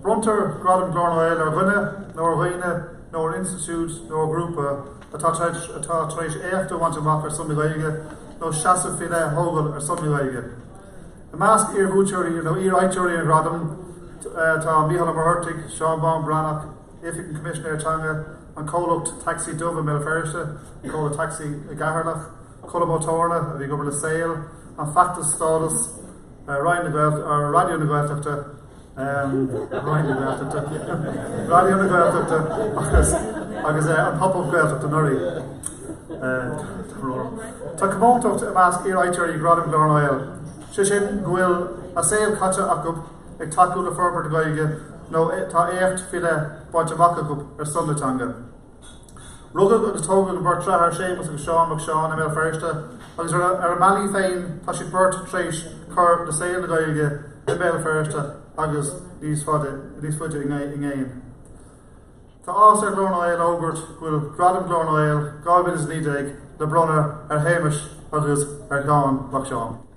Bronntar Gradam Ghlór na nGael ar dhuine nó ar dhaoine nó ar institiúid nó ar ghrúpa atá tar éis éacht a bhaint amach ar son na Gaeilge nó seasamh faoi leith a thógáil ar son na Gaeilge. I measc iar-bhuaiteoirí nó iar-fhaighteoirí an Ghradaim tá Mícheál Ó Muircheartaigh, Seán Bán Breathnach, Oifig an Choimisinéara Teanga, an comhlacht Tacsaí Dubh i mBéal Feirste, an comhlacht Tacsaí i gCeatharlach, Colm Ó Tórna, a bhí ag obair le Saol, an feachtas Stádas, Roinn na Gaeltachta, Raidió na Gaeltachta, Roinn na Gaeltachta, Raidió na Gaeltachta agus agus an pobal Gaeltachta anuraidh. Tá comóntacht i measc iarfhaighteoirí Ghradaim Ghlór na nGael, sé sin go bhfuil a saol caite acu ag tacú le forbairt na Gaeilge nó tá éacht faoi leith bainte amach acu ar son na teanga. Rugadh agus tógadh an bheirt dearthár Séamus agus Seán Mac Seáin i mBéal Feirste agus ar a mbealaí féin tá siad beirt tar éis cur le saol na Gaeilge i mBéal Feirste agus níos faide i gcéin. Tá áthas ar Ghlór na nGael a fhógairt go bhfuil Gradam Ghlór na nGael 2019 le bronnadh ar Shéamus agus ar Sheán Mac Seáin.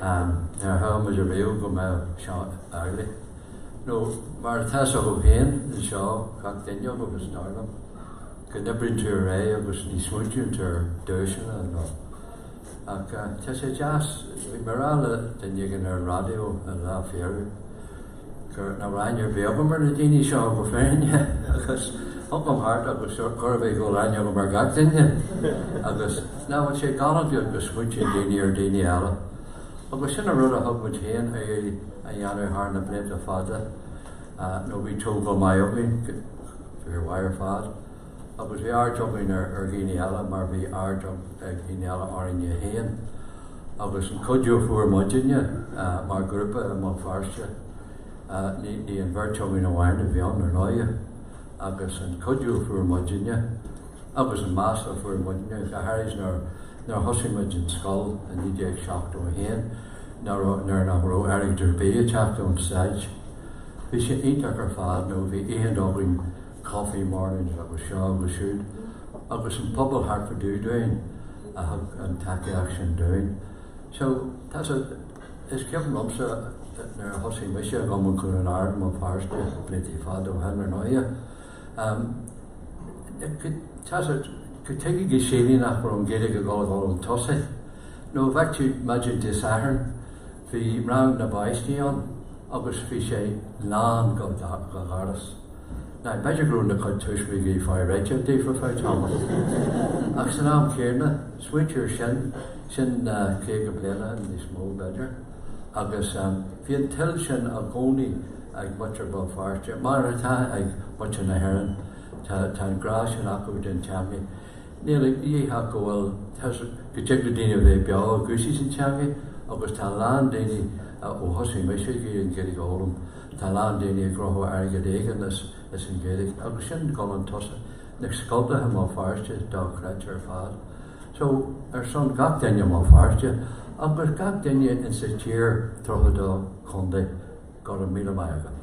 An ndearfadh muid ariamh go mbeadh seo amhlaidh? Nó mar atá sé ann féin, anseo gach fuinneog agus doirleaf, go n-oibríonn tú ar aghaidh agus ní smaointíonn tú ar duaiseanna nó. Ach tá sé deas, bhí mé a rá le duine éigin ar an raidió an lá faoi dheireadh, Chuir na ráineir bhéal dom ar na daoine seo go fírinne agus thug dom thart agus sure gurb é go ráineogaim ar gach duine agus nach bhfuil sé galánta go smaointíonn daoine ar daoine eile agus sin an rud a thig linn féin a dhéanamh thar na blianta fada nó bhí tógáil maith againn fir mhaith ar fad. Agus bhí aird againn ar dhaoine eile mar bhí aird ag daoine eile orainne féin. Agus an cuidiú a fuair muidinne mar ghrúpa i mBéal Feirste, ní an bheirt againn amháin a bhí ann ar ndóigh, agus an cuidiú a fuair muidinne agus an meas a fuair muidinne, go háirid nuair a thosaigh muid an scoil in 1971 nuair nach raibh airgead ar bith ag teacht ón Stát. Bhí sé iontach ar fad nó bhí oícheanta againn, Coffee Mornings agus Seo agus Siúd agus an pobal thart go dtí dúinn a thug an tacaíocht sin dúinn. So, tá sa, is cuimhin liomsa nuair a thosaigh mise ag dul i gCluain Ard, i mBéal Feirste, blianta fada ó shin ar ndóighe, ehm, tá sa, go dtuigfidh go sílfidh nach raibh an Ghaeilge ag dul a dhul tosaigh nó bheadh tú maidin Dé Sathairn, Bhí rang na bpáistí ann agus bhí sé lán go doras. Now, b'fhéidir go raibh a gcuid tuismitheoirí ag fáil réidh daofa fá tamall, ach san am chéadna, smaointigh air sin, sin caoga bliain and níos mó, b'fhéidir, agus bhí an toil sin i gcónaí ag muintir Bhéal Feirste, mar atá ag muintir na hÉireann, tá an grá sin acu don teangaidh. Níl aon cheist ach go bhfuil, go dtig le daoine a bheith beo i gcúrsaí na teanga agus tá a lán daoine, ó thosaigh mise ag iarraidh an Ghaeilge a fhoghlaim, tá a lán daoine ag saothrú airgead éigin as an Ghaeilge agus sin dul chun tosaigh na scoileanna i mBéal Feirste dochreidte ar fad. So, ar son gach duine i mBéal Feirste agus gach duine insa tír 32 contae, Go raibh míle maith agat.